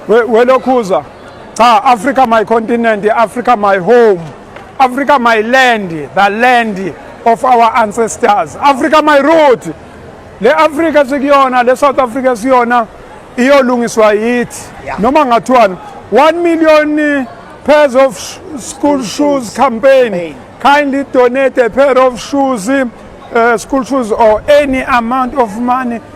welokhuza cha africa my continent africa my home africa my land the land of our ancestors africa my root le africa sikuyona le south africa siyona iyolungiswa yithi noma ngathiwani 1 million pairs of school shoes campaign kindly donate a pair of shoes uh, school shoes or any amount of money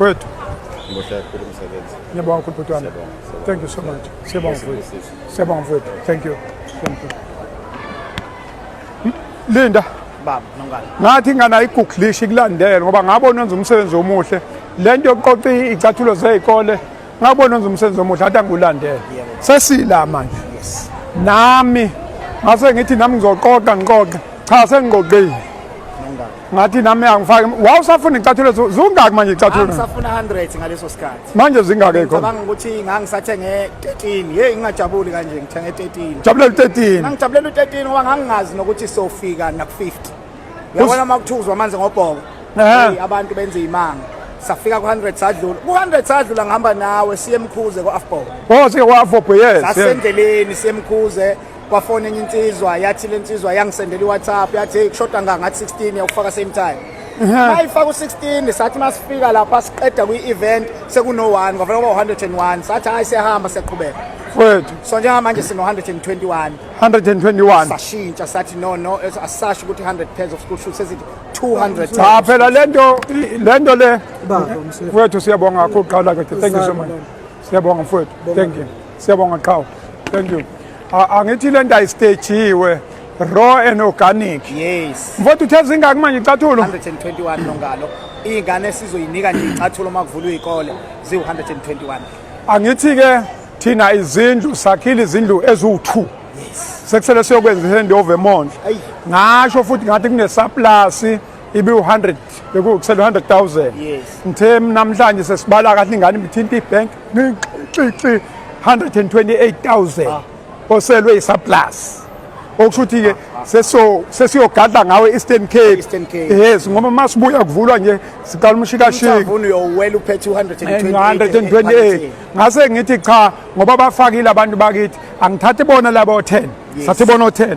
Wethu. Ngohle kakhulu umsebenzi. Ngiyabonga kakhulu bhuti wami. Thank you so much. Siyabonga mfowethu. Siyabonga mfowethu. Thank you. Thank you. Linda. Baba, nongani. Ngathi ingane ayiguglish ikulandele ngoba ngabona wenza umsebenzi omuhle. Lento yokuqoqa icathulo zezikole ngabona wenza umsebenzi omuhle athi angulandele. Sesila manje. Yes. Nami ngase ngithi nami ngizoqoqa ngiqoqe. Cha sengiqoqile. ngathi nami angifake wawusafuna icathulo zungaki manje icathulo ngisafuna 100 ngaleso sikhathi manje zingaki khona ngicabanga ukuthi ngangisathenge 13 hey ngingajabuli kanje ngithenge 13 jabulela 13 ngangijabulela 13 ngoba ngangingazi nokuthi sofika na 50 yabona makuthuzwa amanzi ngobhoko hey abantu benza imanga safika ku 100 sadlula ku 100 sadlula ngihamba nawe siye emkhuze ko afbob oh siye ko afbob yes sasendleleni siye emkhuze kwafona enye insizwa yathi le nsizwa yangisendela iwhatsapp yathi hey kushoda ngangathi 16 yakufaka same time mayifaka u-16 sathi masifika lapha siqeda kwi-event sekuno-1 kwavela kuba 101 sathi hhayi siyahamba siyaqhubeka wethu so njengamanje sino-121 121 sashintsha sathi no no asisasho ukuthi 100 pairs of school shoes sezithi 200 cha phela lento lento le wethu siyabonga kakhulu qala ke thank you so much Siyabonga mfowethu. Thank you. Siyabonga qhawe. Thank you. Angithi lento ayistagejiwe raw and organic. Yes. Mfowethu uthe zingaki manje icathulo? 121 nongalo. Ingane sizoyinika nje icathulo makuvulwa izikole ziwu 121. Angithi ke thina izindlu sakhile izindlu eziwu2. Yes. Sekusele siyokwenza ihandover manje. Ngasho futhi ngathi kunesaplasi ibiwu-100 bekuwukusela u-100000 ngithe namhlanje sesibala kahle ingane ibithinta ibank nixixi 128000 oselwe isaplus okusho ukuthi-ke sesiyogadla ngawe eastern cape yes ngoba uma sibuya kuvulwa nje siqala umshikashiki128 eh, ngase ngithi cha ngoba bafakile abantu bakithi angithathi bona labo 10 sathi bona 10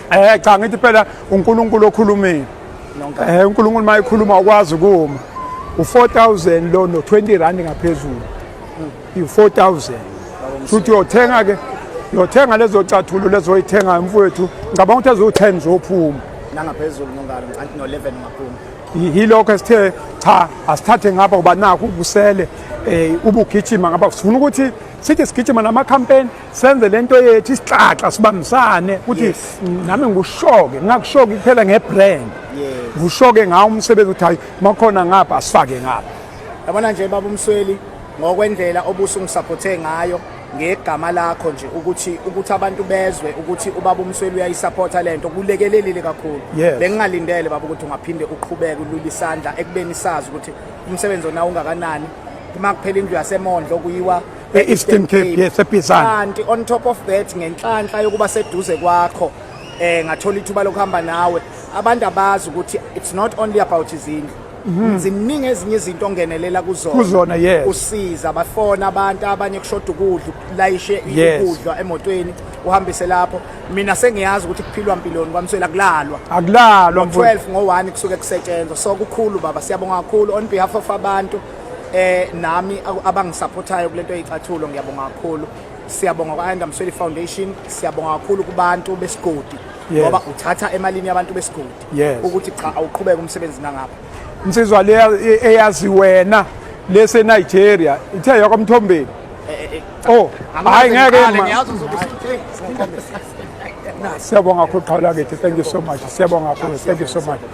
Eh cha ngithi phela uNkulunkulu okhulumile. Eh uNkulunkulu mayikhuluma ukwazi kuma. U4000 lo no 20 rand ngaphezulu. U4000. Futhi uyothenga ke uyothenga lezo cathulo lezoyithenga mfowethu ngicabanga ukuthi ezo10 zophuma. Nangaphezulu ngongalo anti no 11 ngaphuma. Yilokho esithe cha asithathe ngapha uba nakho ubusele eh ubugijima ngapha sifuna ukuthi sithi sigijima nama campaign senze lento yethu isixaxa sibambisane ukuthi nami ngikushoke ngingakushoki kuphela ngebrand ngikushoke ngawo umsebenzi ukuthi hayi makhona ngapha asifake ngapha yabona nje baba umsweli ngokwendlela obusu ngisaphothe ngayo ngegama lakho nje ukuthi ukuthi abantu bezwe ukuthi ubaba umsweli uyayisupporta lento kulekelelile kakhulu bengingalindele baba ukuthi ungaphinde uqhubeke ulule isandla ekubeni sazi ukuthi umsebenzi onawo ungakanani uma kuphela indlu yasemondlo kuyiwa e-Eastern Cape yes eBizana kanti on top of that ngenhlanhla yokuba seduze kwakho eh ngathola ithuba lokuhamba nawe abantu abazi ukuthi it's not only about izindlu mhm. ziningi ezinye izinto ongenelela kuzona kuzona yes usiza abafona abantu abanye kushoda ukudla ukulayishe ukudla emotweni uhambise lapho mina sengiyazi ukuthi kuphilwa mpiloni kwamswela kulalwa akulalwa 12 ngo1 kusuke kusetshenzwa so kukhulu baba siyabonga kakhulu on behalf of abantu eh nami abangisupportayo kulento yicathulo ngiyabonga kakhulu siyabonga kwa-ayanda msweli foundation siyabonga kakhulu kubantu besigodi ngoba uthatha emalini yabantu besigodi ukuthi cha awuqhubeke umsebenzi nangapha insizwa le eyazi wena lesenigeria ithe yakwamthombeni eh, eh, eh, oh hayi ngeke siyabonga kakhulu qhawula kithi thank you so much siyabonga kakhulu thank you so much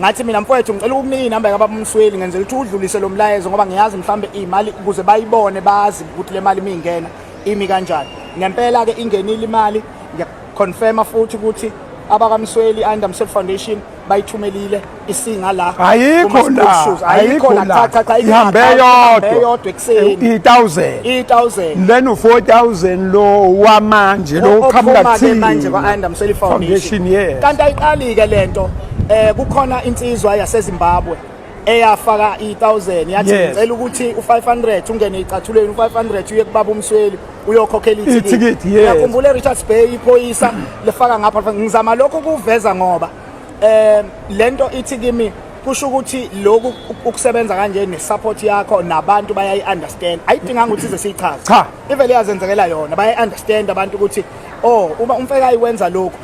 ngathi mina mfowethu ngicela ukunika inamba kababa umsweli ngenzela ukuthi udlulise lo mlayezo ngoba ngiyazi mhlawumbe imali ukuze bayibone bazi ukuthi le mali mingena imi kanjani ngempela ke ingenile imali ngiyaconfirma futhi ukuthi abakamsweli under msweli foundation bayithumelile isinga la ayikho la ayikho la cha cha cha ihambe yodwa yodwa ekuseni i1000 i1000 leno 4000 lo wamanje lo qhamuka thini manje kwa under msweli foundation kanti ayiqali ke lento Eh kukhona insizwa yaseZimbabwe eyafaka i1000 yathi Yes. ngicela ukuthi u500 ungene icathuleni u500 uye kubaba umsweli uyokhokhela Ithikithi, ithikithi yes. uyakhumbula eRichards Bay iphoyisa lifaka ngapha ngizama lokho ukuveza ngoba eh lento ithi kimi kusho ukuthi lokhu uk- ukusebenza kanje nesupport yakho nabantu bayayi understand ayidinganga ukuthi ize siyichaze Cha. ivele yazenzekela yona bayayi understand abantu ukuthi oh uma umfekayi wenza lokhu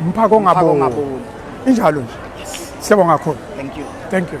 umphako ongaboni injalo nje siyabonga kakhulu thank you thank you